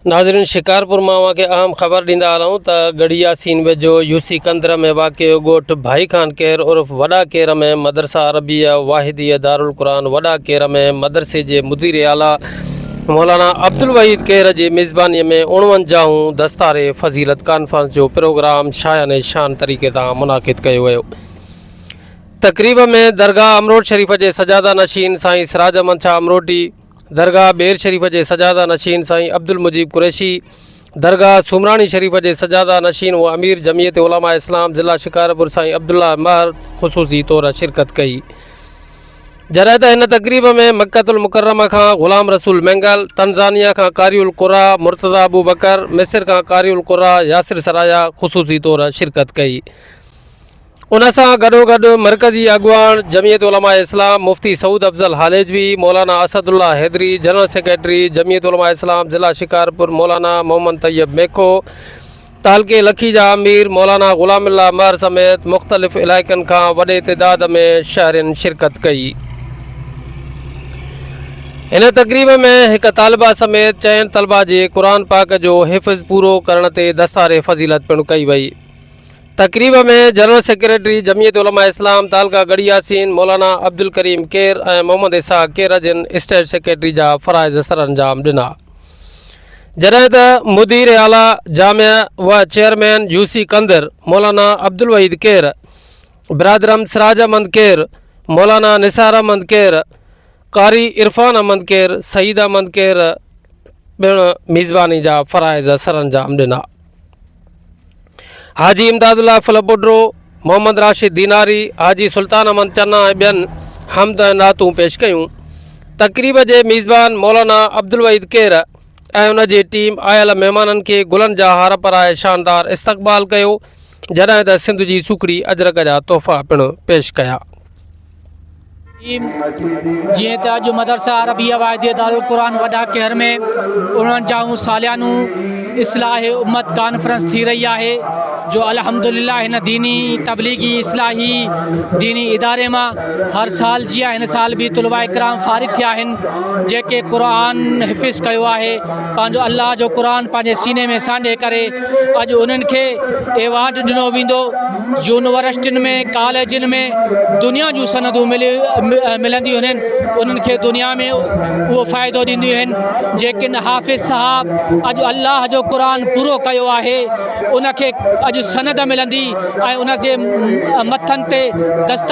ناظرين شڪارپور مان اوهان کي اهم خبر ڏيندا هلون ته ڳڙهي ياسين ويجهو يوسي ڪندر ۾ واقع ڳوٺ ڀائي خان ڪير عرف وڏا ڪير ۾ مدرسه عربيه واحديه دارالقرآن وڏا ڪير ۾ مدرسي جي مدير اعليٰ مولانا عبدالوحيد ڪير جي ميزباني ۾ اڻونجاهون دستار فضيلت ڪانفرنس جو پروگرام شايان شان طريقي سان منعقد ڪيو ويو تقريب ۾ درگاهه امروٽ شريف جي سجاده نشين سائين سراج احمد شاهه امروٽي درگاهه ٻير شريف جي سجاده نشين سائين عبدالمجيب قريشي، درگاهه سومراڻي شريف جي سجاده نشين و امير جمعيت علماء اسلام ضلع شڪارپور سائين عبدالله مهر خصوصي طور شرڪت ڪئي. جڏهن ته هن تقريب ۾ مڪه المڪرمه کان غلام رسول مينگل، تنزانيا کان قاري القرآء مرتضيٰ ابوبڪر، مصر کان قاري القرآء ياسر سرايا خصوصي طور شرڪت ڪئي. ان سان گڏوگڏ مرڪزي اڳواڻ Jamiat Ulema Islam Mufti Saud Afzal Halejvi, Maulana Asadullah Haidri, general secretary Jamiat Ulema Islam ضلع شڪارپور مولانا محمد طيب ميکو، تعلقي لکي جا امير مولانا غلام الله مهر سميت مختلف علائقن کان وڏي تعداد ۾ شهرين شرڪت ڪئي. هن تقريب ۾ هڪ طالبه سميت چئن طلبه جي قرآن پاڪ جو حفظ پورو ڪرڻ تي دستار فضيلت پڻ ڪئي وئي. تقريب ۾ جنرل سيڪريٽري جمعيت علماء اسلام تعلقه ڳڙهي ياسين مولانا عبدالڪريم ڪير ۽ محمد اسحاق ڪير جن اسٽيٽ سيڪريٽري جا فرائض سرانجام ڏنا جڏهن ته مدير اعليٰ جامع و چيئرمين يوسي ڪندر مولانا عبدالوحيد ڪير برادرم سراج احمد ڪير مولانا نثار احمد ڪير قاري عرفان احمد ڪير سعيد احمد ڪير پڻ ميزباني جا فرائض سرانجام ڏنا حاجي امداد الله فل بڊرو محمد راشد ديناري حاجي سلطان احمد چنا ۽ ٻين حمد ۽ نعتون پيش ڪيون تقريب جي ميزبان مولانا عبدالوحيد کير ۽ ان جي ٽيم آيل مهمانن کي گلن جا هار پرائي شاندار استقبال ڪيو جڏهن ته سنڌ جي سکڙي اجرڪ جا تحفا پڻ پيش ڪيا جيئن ته اڄ مدرسه عربيه واحديه دارالقرآن وڏا ڪهر ۾ اڻوڻجاهون ساليانون اصلاح امت ڪانفرنس ٿي رهي آهي جو الحمدلله هن ديني تبليغي اصلاحي ديني اداري مان هر سال جيئن هن سال به طلباء اڪرام فارغ ٿيا آهن جيڪي قرآن حفظ ڪيو آهي پنهنجو الله جو قرآن پنهنجي سيني ۾ سانڍي ڪري اڄ انهن کي ايوارڊ ڏنو ويندو يونيورسٽين ۾ ڪاليجن ۾ دنيا جون سندون ملنديون آهن انهن کي دنيا ۾ اهو فائدو ڏينديون آهن جيڪن حافظ صاحب اڄ الله جو قرآن پورو ڪيو آهي ان کي اڄ سند ملندي ۽ ان جي مٿن تي دستخط